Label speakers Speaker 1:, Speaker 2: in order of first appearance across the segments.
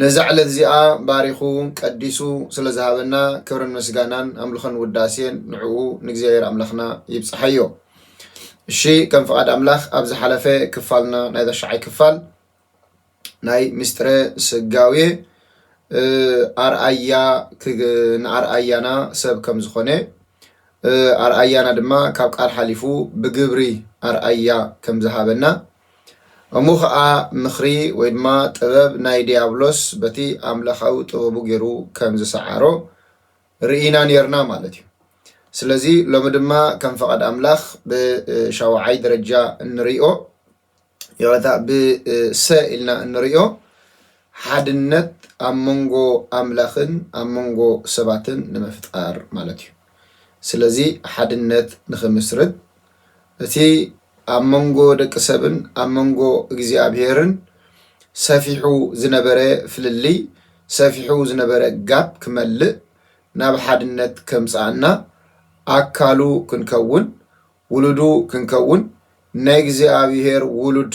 Speaker 1: ነዛ ዕለት እዚኣ ባሪኹ ቀዲሱ ስለ ዝሃበና ክብርን ምስጋናን ኣምልኾን ውዳሴን ንዕኡ ንእግዚኣብሔር ኣምላኽና ይብጽሓዮ። እሺ ከም ፍቓድ ኣምላኽ ኣብ ዝሓለፈ ክፋልና ናይ ተሻዓይ ክፋል ናይ ምስጢረ ስጋዌ ኣርኣያ ንኣርኣያና ሰብ ከም ዝኾነ ኣርኣያና ድማ ካብ ቃል ሓሊፉ ብግብሪ ኣርኣያ ከም ዝሃበና እሞ ኸኣ ምኽሪ ወይ ድማ ጥበብ ናይ ድያብሎስ በቲ ኣምላኻዊ ጥበቡ ጌሩ ከም ዝሰዓሮ ርኢና ኔርና ማለት እዩ። ስለዚ ሎሚ ድማ ከም ፈቓድ ኣምላኽ ብሻውዓይ ደረጃ እንርእዮ ይቕረታ ብሰ ኢልና እንርእዮ ሓድነት ኣብ መንጎ ኣምላኽን ኣብ መንጎ ሰባትን ንምፍጣር ማለት እዩ። ስለዚ ሓድነት ንኽምስርት እቲ ኣብ መንጎ ደቂ ሰብን ኣብ መንጎ እግዚኣብሄርን ሰፊሑ ዝነበረ ፍልልይ፣ ሰፊሑ ዝነበረ ጋፕ ክመልእ፣ ናብ ሓድነት ከምጽኣና፣ ኣካሉ ክንከውን፣ ውሉዱ ክንከውን፣ ናይ እግዚኣብሄር ውሉድ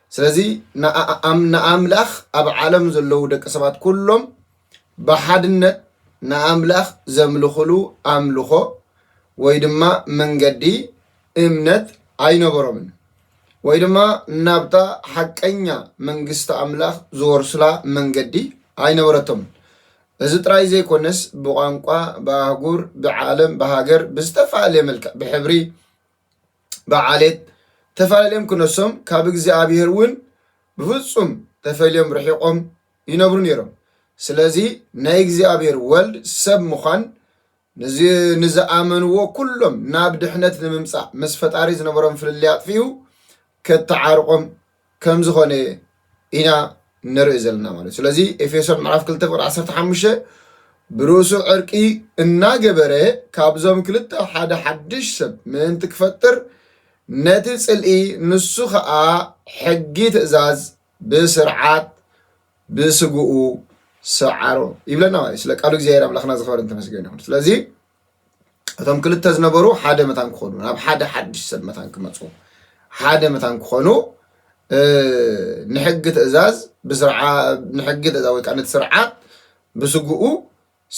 Speaker 1: ስለዚ ንኣምላኽ ኣብ ዓለም ዘለዉ ደቂ ሰባት ኩሎም ብሓድነት ንኣምላኽ ዘምልኹሉ ኣምልኾ ወይ ድማ መንገዲ እምነት ኣይነበሮምን ወይ ድማ ናብታ ሓቀኛ መንግስቲ ኣምላኽ ዝወርሱላ መንገዲ ኣይነበረቶምን። እዚ ጥራይ ዘይኮነስ ብቋንቋ፣ ብኣህጉር፣ ብዓለም፣ ብሃገር ብዝተፈላለየ መልክዕ ብሕብሪ ብዓሌት ተፈላለዮም ክነሶም ካብ እግዚኣብሔር እውን ብፍጹም ተፈልዮም ርሒቆም ይነብሩ ነይሮም። ስለዚ ናይ እግዚኣብሔር ወልድ ሰብ ምዃን ንዝኣመንዎ ኩሎም ናብ ድሕነት ንምምጻእ ምስ ፈጣሪ ዝነበሮም ፍልልይ ኣጥፊኡ ከትዓርቆም ከም ዝኮነ ኢና ንርኢ ዘለና ማለት እዩ ስለዚ ኤፌሶን ምዕራፍ ክልተ ፍቅሪ ዓሰርተ ሓሙሽተ ብርእሱ ዕርቂ እናገበረ ካብዞም ክልተ ሓደ ሓድሽ ሰብ ምእንቲ ክፈጥር ነቲ ጽልኢ ንሱ ኸኣ ሕጊ ትእዛዝ ብስርዓት ብስግኡ ሰዓሮ ይብለና ማለት ስለ ቃሉ እግዚኣብሔር ኣምላኽና ዝኸበርን ተመስገን ይኹን ስለዚ እቶም ክልተ ዝነበሩ ሓደ መታን ክኾኑ ናብ ሓደ ሓድሽ ሰብ መታን ክመፁ ሓደ መታን ክኾኑ ንሕጊ ትእዛዝ ንሕጊ ትእዛዝ ወይ ከዓ ነቲ ስርዓት ብስግኡ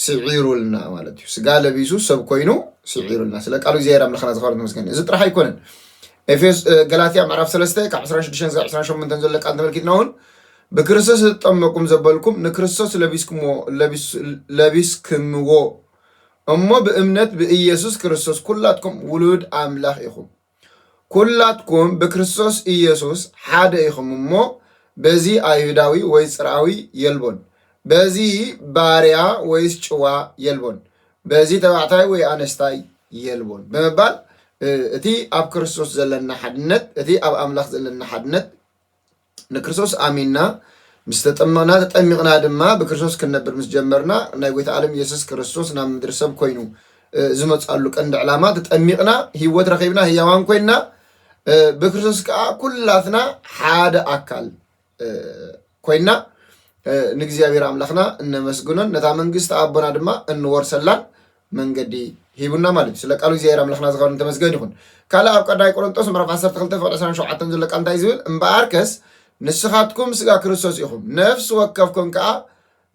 Speaker 1: ስዒሩልና ማለት እዩ ስጋ ለቢሱ ሰብ ኮይኑ ስዒሩልና ስለ ቃሉ እግዚኣብሔር ኣምላኽና ዝኸበረ ተመስገን እዚ ጥራሕ ኣይኮነን ኤፌስ ገላትያ ምዕራፍ 3 ካብ 26 ዛ 28 ዘሎ ቃል ተመልኪትና እውን ብክርስቶስ ዝተጠመቁም ዘበልኩም ንክርስቶስ ለቢስክምዎ እሞ ብእምነት ብኢየሱስ ክርስቶስ ኵላትኩም ውሉድ ኣምላኽ ኢኹም። ኵላትኩም ብክርስቶስ ኢየሱስ ሓደ ኢኹም እሞ፣ በዚ ኣይሁዳዊ ወይ ጽርኣዊ የልቦን፣ በዚ ባርያ ወይስ ጭዋ የልቦን፣ በዚ ተባዕታይ ወይ ኣነስታይ የልቦን ብምባል እቲ ኣብ ክርስቶስ ዘለና ሓድነት እቲ ኣብ ኣምላኽ ዘለና ሓድነት ንክርስቶስ ኣሚንና ምስ ተጠመቕና ተጠሚቕና ድማ ብክርስቶስ ክንነብር ምስ ጀመርና ናይ ጎይታ ኣለም የሱስ ክርስቶስ ናብ ምድሪ ሰብ ኮይኑ ዝመጻሉ ቀንዲ ዕላማ ተጠሚቕና ህይወት ረኺብና ህያዋን ኮይንና ብክርስቶስ ከዓ ኩላትና ሓደ ኣካል ኮይንና ንእግዚኣብሔር ኣምላኽና እነመስግኖን ነታ መንግስቲ ኣቦና ድማ እንወርሰላን መንገዲ ሂቡና ማለት እዩ ስለ ቃሉ እግዚኣብሔር ኣምላክና ዝከበርን ተመስገን ይኩን ካልእ ኣብ ቀዳማይ ቆሮንጦስ ምዕራፍ ዓሰርተ ክልተ ፍቅዲ ዕስራን ሸውዓተን ዘሎ ቃል እንታይ እዩ ዝብል እምበኣርከስ ንስኻትኩም ስጋ ክርስቶስ ኢኹም ነፍሲ ወከፍኩም ከዓ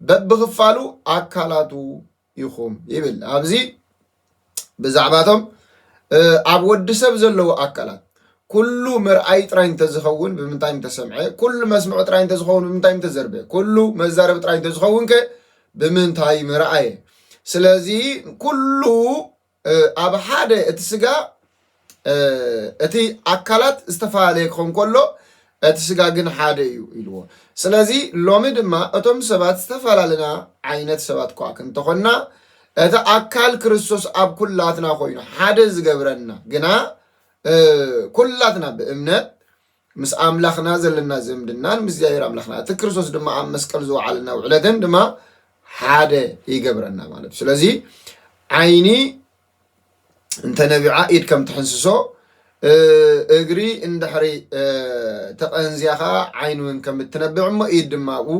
Speaker 1: በብክፋሉ ኣካላቱ ኢኹም ይብል ኣብዚ ብዛዕባቶም ኣብ ወዲ ሰብ ዘለዉ ኣካላት ኩሉ ምርኣይ ጥራይ እንተዝኸውን ብምንታይ እንተሰምዐ ኩሉ መስምዑ ጥራይ እንተዝኸውን ብምንታይ እንተዘርበ ኩሉ መዛረቢ ጥራይ እንተዝኸውን ከ ብምንታይ ምርኣየ ስለዚ ኩሉ ኣብ ሓደ እቲ ስጋ እቲ ኣካላት ዝተፈላለየ ክኸውን ከሎ እቲ ስጋ ግን ሓደ እዩ ኢልዎ ስለዚ ሎሚ ድማ እቶም ሰባት ዝተፈላለና ዓይነት ሰባት ኳ ክንተኾንና እቲ ኣካል ክርስቶስ ኣብ ኩላትና ኮይኑ ሓደ ዝገብረና ግና ኩላትና ብእምነት ምስ ኣምላኽና ዘለና ዝምድናን ምስ እግዚኣብሔር ኣምላኽና እቲ ክርስቶስ ድማ ኣብ መስቀል ዝወዓለና ውዕለትን ድማ ሓደ ይገብረና ማለት እዩ ስለዚ ዓይኒ እንተነቢዓ ኢድ ከም ትሕንስሶ እግሪ እንድሕሪ ተቐንዝያ ከዓ ዓይን እውን ከም እትነብዕ እሞ ኢድ ድማ ኣብኡ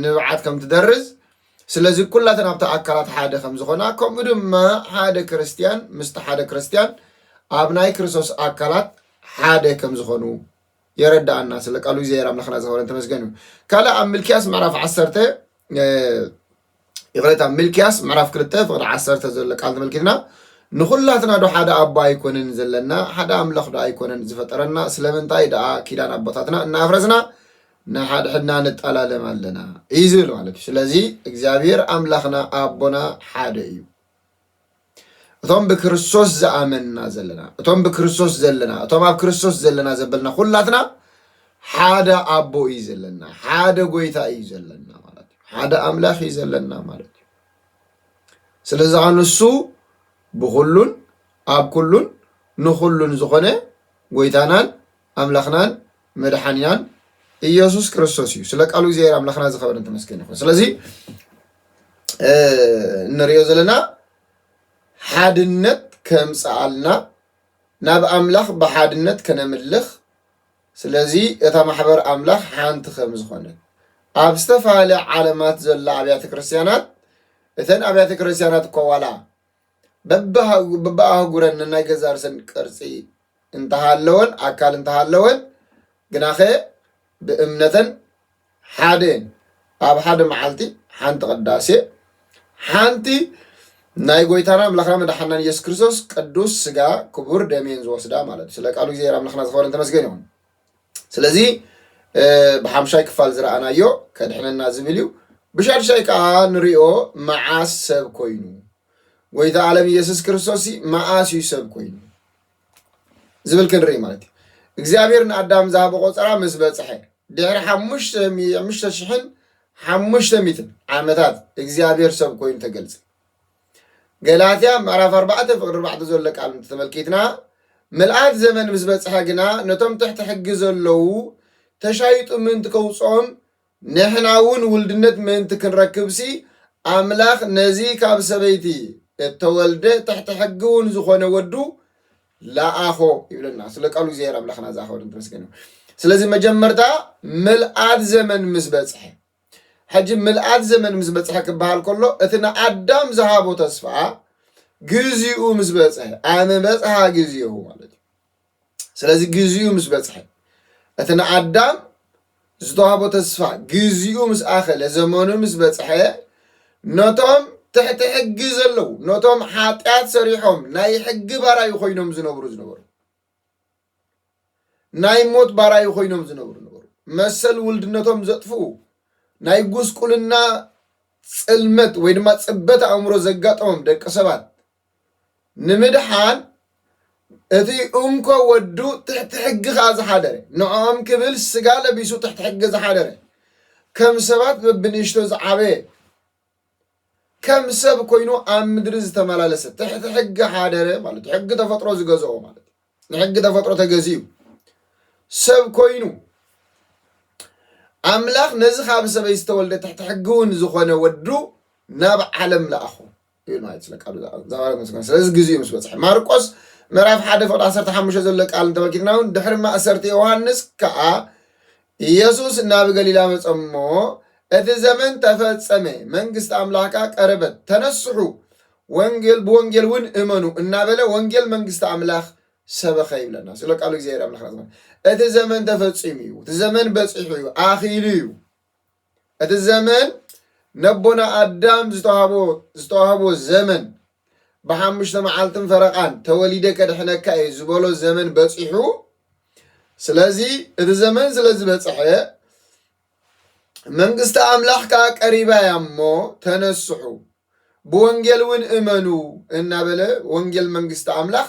Speaker 1: ንብዓት ከም ትደርዝ ስለዚ ኩላተን ኣብቲ ኣካላት ሓደ ከም ዝኾና ከምኡ ድማ ሓደ ክርስትያን ምስቲ ሓደ ክርስትያን ኣብ ናይ ክርስቶስ ኣካላት ሓደ ከም ዝኾኑ የረዳኣና ስለ ቃሉ እግዚኣብሔር ኣምላኽና ዝኸበረን ተመስገን እዩ ካልእ ኣብ ምልክያስ ምዕራፍ ዓሰርተ ይቕሬታ ምልክያስ ምዕራፍ ክልተ ፍቕዲ ዓሰርተ ዘሎ ቃል ተመልኪትና ንኹላትና ዶ ሓደ ኣቦ ኣይኮነን ዘለና ሓደ ኣምላኽ ዶ ኣይኮነን ዝፈጠረና ስለምንታይ ደኣ ኪዳን ኣቦታትና እናፍረስና ንሓድሕድና ንጠላለም ኣለና እዩ ዝብል ማለት እዩ ስለዚ እግዚኣብሔር ኣምላኽና ኣቦና ሓደ እዩ እቶም ብክርስቶስ ዝኣመንና ዘለና እቶም ብክርስቶስ ዘለና እቶም ኣብ ክርስቶስ ዘለና ዘበልና ኩላትና ሓደ ኣቦ እዩ ዘለና ሓደ ጎይታ እዩ ዘለና ማለት እዩ ሓደ ኣምላኽ እዩ ዘለና ማለት እዩ ስለዚ ከዓ ንሱ ብኩሉን ኣብ ኩሉን ንኩሉን ዝኾነ ጎይታናን ኣምላኽናን መድሓኒናን ኢየሱስ ክርስቶስ እዩ። ስለ ቃሉ እግዚኣብሔር ኣምላኽና ዝኸበረን ተመስገን ይኹን። ስለዚ እንሪኦ ዘለና ሓድነት ከምፅኣልና ናብ ኣምላኽ ብሓድነት ከነምልኽ ስለዚ እታ ማሕበር ኣምላኽ ሓንቲ ከም ዝኾነት ኣብ ዝተፈላለያ ዓለማት ዘላ ኣብያተ ክርስትያናት እተን ኣብያተ ክርስትያናት እኮ ዋላ በብኣህጉረን ንናይ ገዛ ርእሰን ቅርጺ እንተሃለወን ኣካል እንተሃለወን ግናኸ ብእምነተን ሓደ እየን። ኣብ ሓደ መዓልቲ ሓንቲ ቅዳሴ ሓንቲ ናይ ጎይታና ኣምላኽና መድሓናን ኢየሱስ ክርስቶስ ቅዱስ ስጋ ክቡር ደሜን ዝወስዳ ማለት እዩ። ስለ ቃሉ እግዚኣብሔር ኣምላኽና ዝኸበረን ተመስገን ይኹን። ስለዚ ብሓምሻይ ክፋል ዝረኣናዮ ከድሕነና ዝብል እዩ ብሻድሻይ ከዓ ንሪኦ መዓስ ሰብ ኮይኑ ጎይታ ዓለም ኢየሱስ ክርስቶስ መዓስ እዩ ሰብ ኮይኑ ዝብል ክንርኢ ማለት እዩ እግዚኣብሔር ንኣዳም ዝሃበ ቆፀራ ምስ በፅሐ ድሕሪ ሓሙሽተ ሽሕን ሓሙሽተ ሚትን ዓመታት እግዚኣብሔር ሰብ ኮይኑ ተገልፀ ገላትያ ምዕራፍ ኣርባዕተ ፍቕዲ ኣርባዕተ ዘሎ ቃል እንተተመልኪትና ምልኣት ዘመን ምስ በጽሐ ግና ነቶም ትሕቲ ሕጊ ዘለዉ ተሻይጡ ምእንቲ ከውጽኦም ንሕና እውን ውልድነት ምእንቲ ክንረክብሲ ኣምላኽ ነዚ ካብ ሰበይቲ እተወልደ ትሕቲ ሕጊ እውን ዝኾነ ወዱ ለኣኾ ይብለና ስለ ቃሉ እግዚኣብሔር ኣምላኽና ዝኣኸበረ ተመስገን እዩ ስለዚ መጀመርታ ምልኣት ዘመን ምስ በጽሐ ሕጂ ምልኣት ዘመን ምስ በጽሐ ክበሃል ከሎ እቲ ንኣዳም ዝሃቦ ተስፋ ግዚኡ ምስ በጽሐ ኣነ በጽሓ ግዚኡ ማለት እዩ ስለዚ ግዚኡ ምስ በጽሐ እቲ ንኣዳም ዝተዋህቦ ተስፋ ግዚኡ ምስ ኣኸለ ዘመኑ ምስ በጽሐ ነቶም ትሕቲ ሕጊ ዘለዉ ነቶም ሓጢኣት ሰሪሖም ናይ ሕጊ ባራዩ ኮይኖም ዝነብሩ ዝነበሩ ናይ ሞት ባራዩ ኮይኖም ዝነብሩ ነበሩ። መሰል ውልድነቶም ዘጥፍኡ ናይ ጉስቁልና ፅልመት ወይ ድማ ፅበት ኣእምሮ ዘጋጠሞም ደቂ ሰባት ንምድሓን እቲ እንኮ ወዱ ትሕቲ ሕጊ ከዓ ዝሓደረ ንዕኦም ክብል ስጋ ለቢሱ ትሕቲ ሕጊ ዝሓደረ ከም ሰባት በብንእሽቶ ዝዓበየ ከም ሰብ ኮይኑ ኣብ ምድሪ ዝተመላለሰ ትሕቲ ሕጊ ሓደረ ማለት ሕጊ ተፈጥሮ ዝገዝኦ ማለት ንሕጊ ተፈጥሮ ተገዚኡ ሰብ ኮይኑ ኣምላኽ ነዚ ካብ ሰበይ ዝተወልደ ትሕቲ ሕጊ እውን ዝኾነ ወዱ ናብ ዓለም ለኣኹ ይብል ማለት ስለ ቃሉ ዛባረት መስከ ስለዚ ግዜኡ ምስ በፅሐ ማርቆስ ምዕራፍ ሓደ ፍቅዲ ዓሰርተ ሓሙሽተ ዘሎ ቃል እንተመልኪትና እውን ድሕሪ ማእሰርቲ ዮሃንስ ከዓ ኢየሱስ ናብ ገሊላ መጸ እሞ፣ እቲ ዘመን ተፈጸመ፣ መንግሥት ኣምላክ ከኣ ቀረበት፣ ተነስሑ፣ ወንጌል ብወንጌልውን እመኑ እናበለ ወንጌል መንግሥት ኣምላክ ሰበኸ ይብለና። ስለ ቃሉ እግዚኣብሔር ኣምላክና እቲ ዘመን ተፈጺሙ እዩ፣ እቲ ዘመን በጺሑ እዩ፣ ኣኺሉ እዩ። እቲ ዘመን ነቦና ኣዳም ዝተዋህቦ ዝተዋህቦ ዘመን ብሓሙሽተ መዓልትን ፈረቓን ተወሊደ ከድሕነካ እየ ዝበሎ ዘመን በፂሑ ስለዚ እቲ ዘመን ስለ ዝበፅሐ መንግስቲ ኣምላኽ ከዓ ቀሪባ እያ እሞ ተነስሑ ብወንጌል እውን እመኑ እናበለ ወንጌል መንግስቲ ኣምላኽ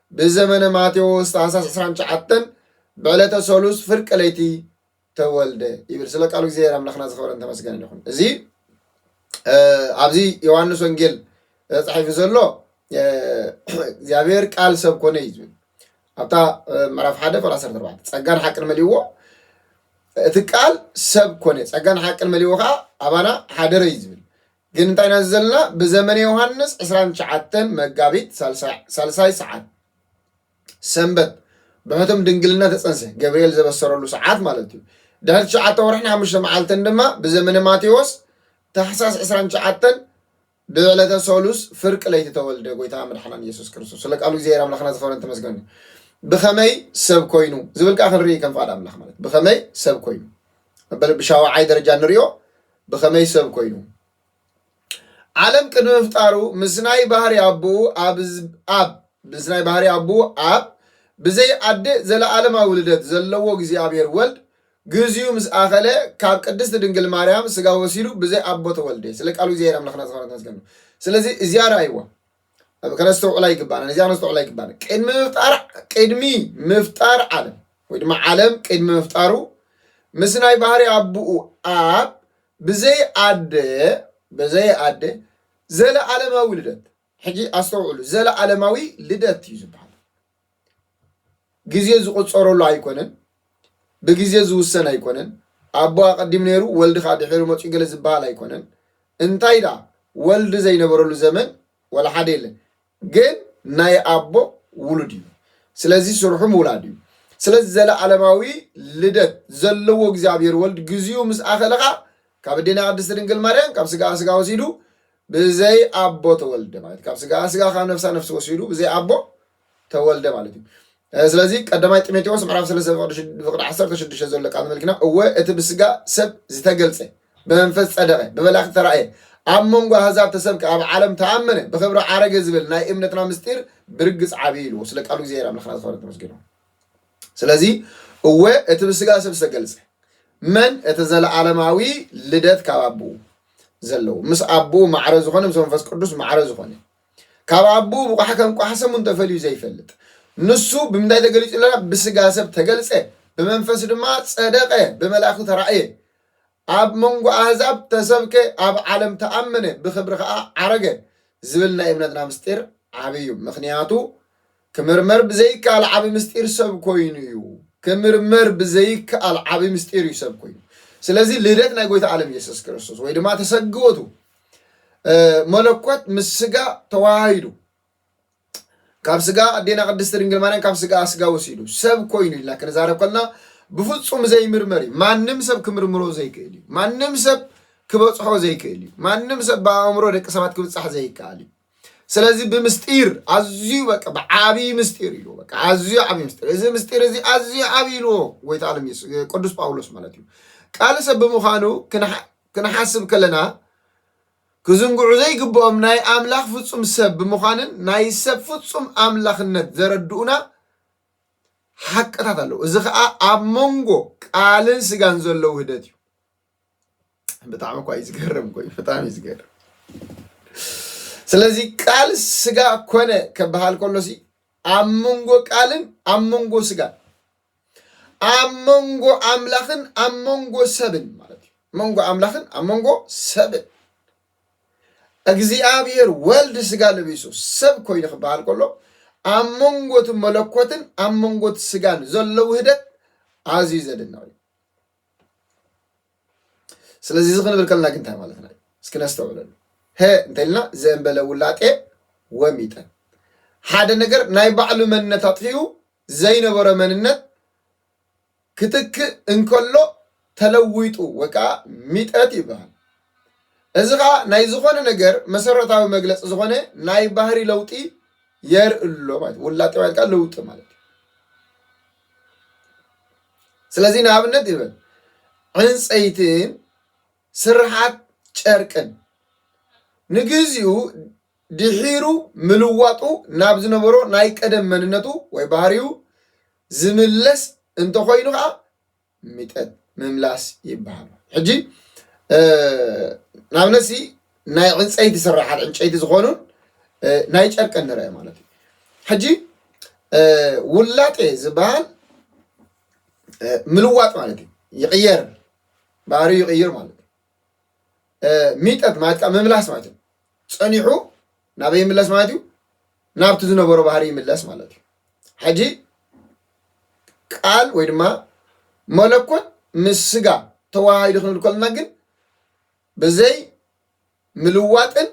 Speaker 1: ብዘመነ ማቴዎስ ታኅሳስ ዕስራን ትሽዓተን ብዕለተ ሰሉስ ፍርቂ ለይቲ ተወልደ ይብል። ስለ ቃሉ እግዚኣብሔር ኣምላኽና ዝኸበረን ተመስገንን ይኹን። እዚ እ፣ ኣብዚ ዮሐንስ ወንጌል ተጻሒፉ ዘሎ እ፣ እግዚኣብሔር ቃል ሰብ ኮነ እዩ ዝብል ኣብታ እ፣ ምዕራፍ ሓደ ቁጥሪ ዓሰርተ ኣርባዕተ ጸጋን ሓቅን መሊእዎ እቲ ቃል ሰብ ኮነ ጸጋን ሓቅን መሊእዎ ከዓ ኣባና ሓደረ እዩ ዝብል ግን እንታይ ኢና ዘለና ብዘመነ ዮሃንስ ዕስራን ትሽዓተን መጋቢት ሳልሳይ ሳልሳይ ሰዓት ሰንበት ብሕቱም ድንግልና ተጸንሰ ገብርኤል ዘበሰረሉ ሰዓት ማለት እዩ ድሕሪ ትሽዓተ ወርሕን ሓሙሽተ መዓልትን ድማ ብዘመነ ማቴዎስ ታሕሳስ ዕስራን ትሽዓተን ብዕለተ ሰሉስ ፍርቂ ለይቲ ተወልደ ጎይታ መድሓናን ኢየሱስ ክርስቶስ ስለ ቃሉ እግዚኣብሔር ኣምላኽና ዝኸበረን ተመስገን እዩ። ብኸመይ ሰብ ኮይኑ ዝብል ከዓ ክንርኢ ከም ፍቓድ ኣምላኽ ማለት ብኸመይ ሰብ ኮይኑ መበል ብሻውዓይ ደረጃ ንሪኦ ብኸመይ ሰብ ኮይኑ? ዓለም ቅድሚ ምፍጣሩ ምስ ናይ ባህሪ ኣቦኡ ኣብ ምስ ናይ ባህሪ ኣቦኡ ኣብ ብዘይ ኣደ ዘለኣለማዊ ልደት ዘለዎ እግዚኣብሔር ወልድ ግዚኡ ምስ ኣኸለ ካብ ቅድስት ድንግል ማርያም ስጋ ወሲዱ ብዘይ ኣቦ ተወልደ ስለ ቃሉ እግዚኣብሔር ኣምላኽና ዝኾነ ተመስገኑ ስለዚ እዚኣ ረኣይዋ ከነስተውዕላ ይግባና ነዚኣ ከነስተውዕላ ይግባና ቅድሚ ምፍጣር ቅድሚ ምፍጣር ዓለም ወይ ድማ ዓለም ቅድሚ ምፍጣሩ ምስ ናይ ባህሪ ኣቦኡ ኣብ ብዘይ ኣደ ብዘይ ኣደ ዘለዓለማዊ ልደት ሕጂ ኣስተውዕሉ ዘለዓለማዊ ልደት እዩ ዝበሃል ግዜ ዝቑፀረሉ ኣይኮነን፣ ብግዜ ዝውሰን ኣይኮነን፣ ኣቦ ኣቐዲሙ ነይሩ ወልዲ ከዓ ድሒሩ መፂኡ ገለ ዝበሃል ኣይኮነን። እንታይ ደኣ ወልዲ ዘይነበረሉ ዘመን ዋላ ሓደ የለን። ግን ናይ ኣቦ ውሉድ እዩ። ስለዚ ስርሑ ምውላድ እዩ። ስለዚ ዘለዓለማዊ ልደት ዘለዎ እግዚኣብሔር ወልድ ግዚኡ ምስ ኣኸለ ከዓ ካብ እዴና ቅድስት ድንግል ማርያም ካብ ስጋኣ ስጋ ወሲዱ ብዘይ ኣቦ ተወልደ ማለት ካብ ስጋኣ ስጋ ካብ ነፍሳ ነፍሲ ወሲዱ ብዘይ ኣቦ ተወልደ ማለት እዩ ስለዚ ቀዳማይ ጢሞቴዎስ ምዕራፍ ሰለስተ ፍቅዲ ዓሰርተ ሽዱሽተ ዘሎ ቃል መልክና እወ እቲ ብስጋ ሰብ ዝተገልጸ ብመንፈስ ጸደቀ ብመላእክ ተራእየ ኣብ መንጎ ኣህዛብ ተሰብከ ኣብ ዓለም ተኣመነ ብክብሪ ዓረገ ዝብል ናይ እምነትና ምስጢር ብርግጽ ዓብዪ ኢልዎ ስለ ቃሉ እግዚኣብሔር ኣምላኽና ዝኸበረ ተመስገን ስለዚ እወ እቲ ብስጋ ሰብ ዝተገልጸ መን እቲ ዘለዓለማዊ ልደት ካብ ኣቦኡ ዘለዎ ምስ ኣቦኡ ማዕረ ዝኾነ ምስ መንፈስ ቅዱስ ማዕረ ዝኾነ ካብ ኣቦኡ ብቋሕ ከም ቋሕ ሰሙ እንተፈልዩ ዘይፈልጥ ንሱ ብምንታይ ተገሊጹ ኣለና ብስጋ ሰብ ተገልጸ ብመንፈስ ድማ ጸደቀ ብመላእኽቲ ተራእየ ኣብ መንጎ ኣህዛብ ተሰብከ ኣብ ዓለም ተኣመነ ብክብሪ ከዓ ዓረገ ዝብል ናይ እምነትና ምስጢር ዓብይ እዩ ምክንያቱ ክምርመር ብዘይከኣል ዓቢ ምስጢር ሰብ ኮይኑ እዩ። ክምርመር ብዘይከኣል ዓቢ ምስጢር እዩ ሰብ ኮይኑ። ስለዚ ልደት ናይ ጎይታ ዓለም ኢየሱስ ክርስቶስ ወይ ድማ ተሰግወቱ መለኮት ምስ ስጋ ተዋሃሂዱ ካብ ስጋ ኣዴና ቅድስቲ ድንግል ማርያም ካብ ስጋ ስጋ ወሲዱ ሰብ ኮይኑ ኢልና ክንዛረብ ከለና ብፍጹም ዘይምርመር እዩ ማንም ሰብ ክምርምሮ ዘይክእል እዩ ማንም ሰብ ክበፅሖ ዘይክእል እዩ ማንም ሰብ ብኣእምሮ ደቂ ሰባት ክብፃሕ ዘይከኣል እዩ ስለዚ ብምስጢር ኣዝዩ በቃ ብዓብዪ ምስጢር እዩ በቃ ኣዝዩ ዓብዪ ምስጢር እዚ ምስጢር እዚ ኣዝዩ ዓብዪ ኢልዎ ጎይታ ዓለም ኢየሱስ ቅዱስ ጳውሎስ ማለት እዩ ቃል ሰብ ብምዃኑ ክንሓስብ ከለና ክዝንግዑ ዘይግብኦም ናይ ኣምላኽ ፍጹም ሰብ ብምዃንን ናይ ሰብ ፍጹም ኣምላኽነት ዘረድኡና ሓቅታት ኣለዉ እዚ ከዓ ኣብ መንጎ ቃልን ስጋን ዘሎ ውህደት እዩ ብጣዕሚ እኳ እዩ ዝገርም ኮዩ ብጣዕሚ እዩ ዝገርም ስለዚ ቃል ስጋ ኮነ ከበሃል ከሎ ሲ ኣብ መንጎ ቃልን ኣብ መንጎ ስጋን ኣብ መንጎ ኣምላኽን ኣብ መንጎ ሰብን ማለት እዩ መንጎ ኣምላኽን ኣብ መንጎ ሰብን እግዚኣብሔር ወልድ ስጋ ለቢሱ ሰብ ኮይኑ ክበሃል ከሎ ኣብ መንጎቲ መለኮትን ኣብ መንጎቲ ስጋን ዘሎ ውህደት ኣዝዩ ዘድንቕ እዩ ስለዚ እዚ ክንብል ከለና ግን እንታይ ማለትና እዩ? እስኪ ነስተውዕለሉ። ሀ እንተልና ዘእንበለ ውላጤ ወሚጠ ሓደ ነገር ናይ ባዕሉ መንነት ኣጥፊኡ ዘይነበሮ መንነት ክትክእ እንከሎ ተለዊጡ ወይ ከዓ ሚጠት ይበሃል። እዚ ከዓ ናይ ዝኾነ ነገር መሰረታዊ መግለፂ ዝኾነ ናይ ባህሪ ለውጢ የርእሎ ማለት ውላጤ ማለት ለውጢ ማለት ስለዚ ንኣብነት ይብል ዕንፀይትን ስርሓት ጨርቅን ንግዚኡ ድሒሩ ምልዋጡ ናብ ዝነበሮ ናይ ቀደም መንነቱ ወይ ባህሪኡ ዝምለስ እንተኾይኑ ከዓ ሚጠጥ ምምላስ ይበሃሉ ሕጂ ንኣብነት ሲ ናይ ዕንፀይቲ ስራሓት ዕንጨይቲ ዝኾኑን ናይ ጨርቂ ንርአ ማለት እዩ ሕጂ ውላጤ ዝበሃል ምልዋጥ ማለት እዩ ይቕየር ባህሪ ይቕይር ማለት እዩ ሚጠት ማለት ከዓ ምምላስ ማለት እዩ ፀኒሑ ናበይ ይምለስ ማለት እዩ ናብቲ ዝነበሮ ባህሪ ይምለስ ማለት እዩ ሕጂ ቃል ወይ ድማ መለኮት ምስ ስጋ ተዋሃሂዱ ክንብል ከለና ግን ብዘይ ምልዋጥን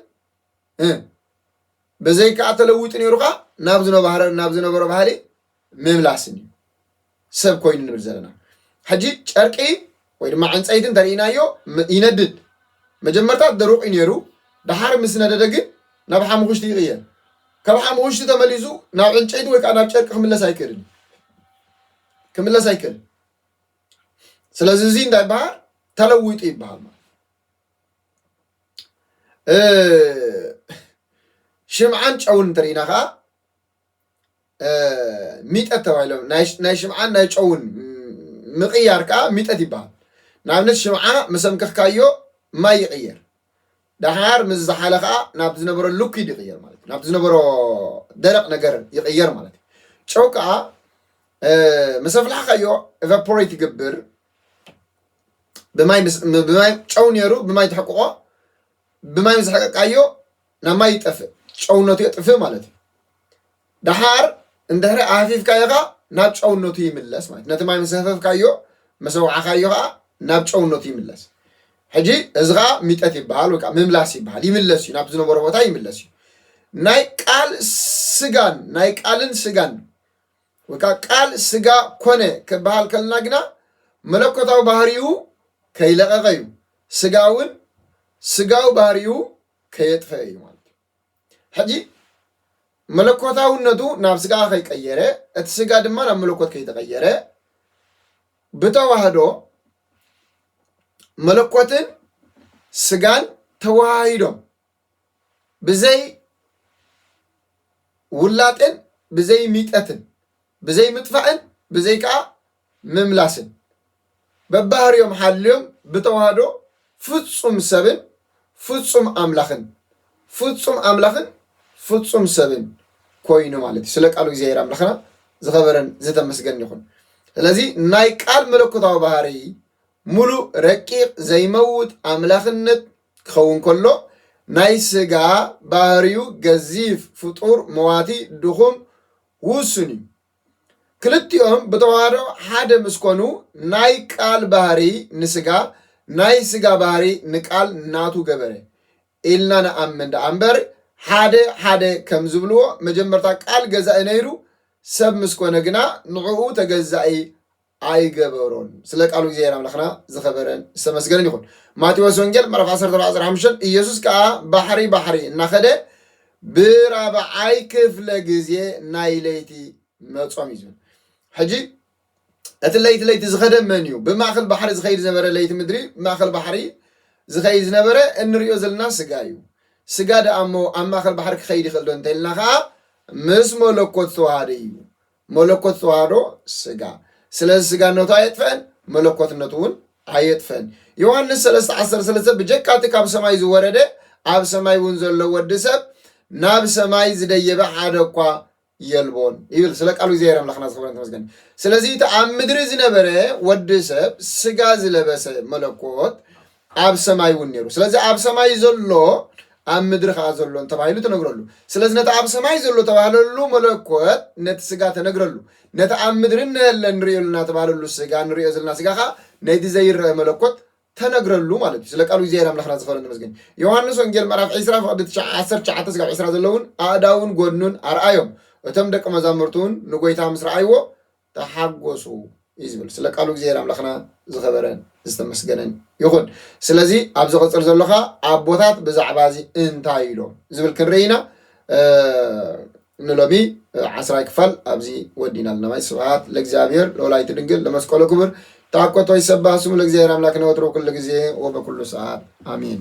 Speaker 1: በዘይ ከዓ ተለዊጡ ነይሩ ከዓ ናብ ዝነበረ ናብ ዝነበሮ ባህሊ ምምላስን እዩ ሰብ ኮይኑ ንብል ዘለና ሕጂ ጨርቂ ወይ ድማ ዕንፀይቲ እንተርኢናዮ ይነድድ መጀመርታ ደሩቅ እዩ ነይሩ ድሓር ምስ ነደደ ግን ናብ ሓሙኽሽቲ ይቕየር ካብ ሓሙኽሽቲ ተመሊሱ ናብ ዕንጨይቲ ወይ ከዓ ናብ ጨርቂ ክምለስ ኣይክእልን ክምለስ ኣይክእልን ስለዚ እዚ እንታይ ይበሃል ተለዊጡ ይበሃል ማለት ሽምዓን ጨውን እንተሪኢና ከዓ ሚጠት ተባሂሎም ናይ ሽምዓን ናይ ጨውን ምቕያር ከዓ ሚጠት ይበሃል ንኣብነት ሽምዓ ምስ ኣምከኽካዮ ማይ ይቕየር ደሓር ምስ ዝሓለ ከዓ ናብ ዝነበሮ ልኩድ ይቕየር ማለት እዩ ናብ ዝነበሮ ደረቕ ነገር ይቕየር ማለት እዩ ጨው ከዓ ምስ ኣፍላሕካዮ ኤቫፖሬት ይገብር ብማይ ብማይ ጨው ነይሩ ብማይ ትሕቅቆ ብማይ ምስ ሕቀቃዮ ናብ ማይ ይጠፍእ ጨውነቱ የጥፍእ ማለት እዩ ደሓር እንድሕሪ ኣህፊፍካዮ ከዓ ናብ ጨውነቱ ይምለስ ማለት ነቲ ማይ ምስ ህፈፍካዮ ምስ ኣውዓኻዮ ከዓ ናብ ጨውነቱ ይምለስ ሕጂ እዚ ከዓ ሚጠት ይበሃል ወይ ከዓ ምምላስ ይበሃል ይምለስ እዩ ናብ ዝነበሮ ቦታ ይምለስ እዩ ናይ ቃል ስጋን ናይ ቃልን ስጋን ወይ ከኣ ቃል ስጋ ኮነ ክበሃል ከሎና ግና መለኮታዊ ባህርይኡ ከይለቐቐ እዩ፣ ስጋ እውን ስጋዊ ባህርይኡ ከየጥፈኤ እዩ ማለት እዩ። ሕጂ መለኮታውነቱ ናብ ስጋ ከይቀየረ እቲ ስጋ ድማ ናብ መለኮት ከይተቐየረ ብተዋህዶ መለኮትን ስጋን ተወሃሂዶም ብዘይ ውላጤን ብዘይ ሚጠትን ብዘይ ምጥፋእን ብዘይ ከዓ ምምላስን በባህርዮም ሓልዮም ብተዋህዶ ፍፁም ሰብን ፍፁም ኣምላኽን ፍፁም ኣምላኽን ፍፁም ሰብን ኮይኑ ማለት እዩ ስለ ቃሉ እግዚኣብሔር ኣምላኽና ዝኸበረን ዝተመስገን ይኹን ስለዚ ናይ ቃል መለኮታዊ ባህሪ ምሉእ ረቂቕ ዘይመውት ኣምላኽነት ክኸውን ከሎ፣ ናይ ስጋ ባህርዩ ገዚፍ ፍጡር መዋቲ ድኹም ውሱን እዩ። ክልቲኦም ብተዋህዶ ሓደ ምስ ኮኑ ናይ ቃል ባህርይ ንስጋ ናይ ስጋ ባህርይ ንቃል ናቱ ገበረ ኢልና ንኣምን ደኣ እምበር ሓደ ሓደ ከም ዝብልዎ መጀመርታ ቃል ገዛኢ ነይሩ ሰብ ምስ ኮነ ግና ንዕኡ ተገዛኢ ኣይገበሮን ስለ ቃሉ እግዚኣብሔር ኣምላኽና ዝኸበረን ዝተመስገነን ይኹን። ማቴዎስ ወንጌል ምዕራፍ 14:15 ኢየሱስ ከኣ ባሕሪ ባሕሪ እናኸደ ብራብዓይ ክፍለ ግዜ ናይ ለይቲ መጾም እዩ ዝብል ሕጂ እቲ ለይቲ ለይቲ ዝኸደ መን እዩ ብማእኸል ባሕሪ ዝኸይድ ዝነበረ ለይቲ ምድሪ ብማእኸል ባሕሪ ዝኸይድ ዝነበረ እንሪኦ ዘለና ስጋ እዩ ስጋ ደኣ እሞ ኣብ ማእኸል ባሕሪ ክኸይድ ይኽእል ዶ እንተኢልና ከዓ ምስ መለኮት ዝተዋሃደ እዩ መለኮት ዝተዋህዶ ስጋ ስለዚ ስጋነቱ ኣየጥፈአን መለኮትነቱ እውን ኣየጥፈን ዮሐንስ ሰለስተ ዓሰርተ ሰለስተ ብጀካ እቲ ካብ ሰማይ ዝወረደ ኣብ ሰማይ እውን ዘሎ ወዲ ሰብ ናብ ሰማይ ዝደየበ ሓደ እኳ የልቦን ይብል ስለ ቃሉ እግዚኣብሔር ኣምላኽና ዝኸበረን ተመስገን ስለዚ እቲ ኣብ ምድሪ ዝነበረ ወዲ ሰብ ስጋ ዝለበሰ መለኮት ኣብ ሰማይ እውን ነይሩ። ስለዚ ኣብ ሰማይ ዘሎ ኣብ ምድሪ ከዓ ዘሎን ተባሂሉ ተነግረሉ። ስለዚ ነቲ ኣብ ሰማይ ዘሎ ተባህለሉ መለኮት ነቲ ስጋ ተነግረሉ። ነቲ ኣብ ምድሪ እነሀለ ንርእዮ ኣለና ተባህለሉ ስጋ ንርእዮ ዘለና ስጋ ከዓ ነቲ ዘይረአ መለኮት ተነግረሉ ማለት እዩ። ስለ ቃሉ እግዚኣብሔር ኣምላኽና ዝኸበረን ተመስገን። ዮሐንስ ወንጌል ምዕራፍ 20 ፍቕዲ 19 ስጋብ 20 ዘለውን ኣእዳውን ጎድኑን ኣርኣዮም። እቶም ደቂ መዛሙርቱን ንጎይታ ምስ ረኣይዎ ተሓጎሱ እዩ ዝብል ስለ ቃሉ እግዚኣብሔር ኣምላክና ዝኸበረ ዝተመስገነን ይኹን ስለዚ ኣብ ዝቕፅል ዘሎ ከዓ ኣቦታት ብዛዕባ እዚ እንታይ ኢሎም ዝብል ክንርኢ ኢና ንሎሚ ዓስራይ ክፋል ኣብዚ ወዲና ኣለና ማይ ስብሃት ለእግዚኣብሔር ለወላይቲ ድንግል ለመስቀሉ ክብር ተኣኮቶ ይሰባህ ስሙ ለእግዚኣብሔር ኣምላክ ነወትሮ ኩሉ ግዜ ወበኩሉ ሰዓት ኣሜን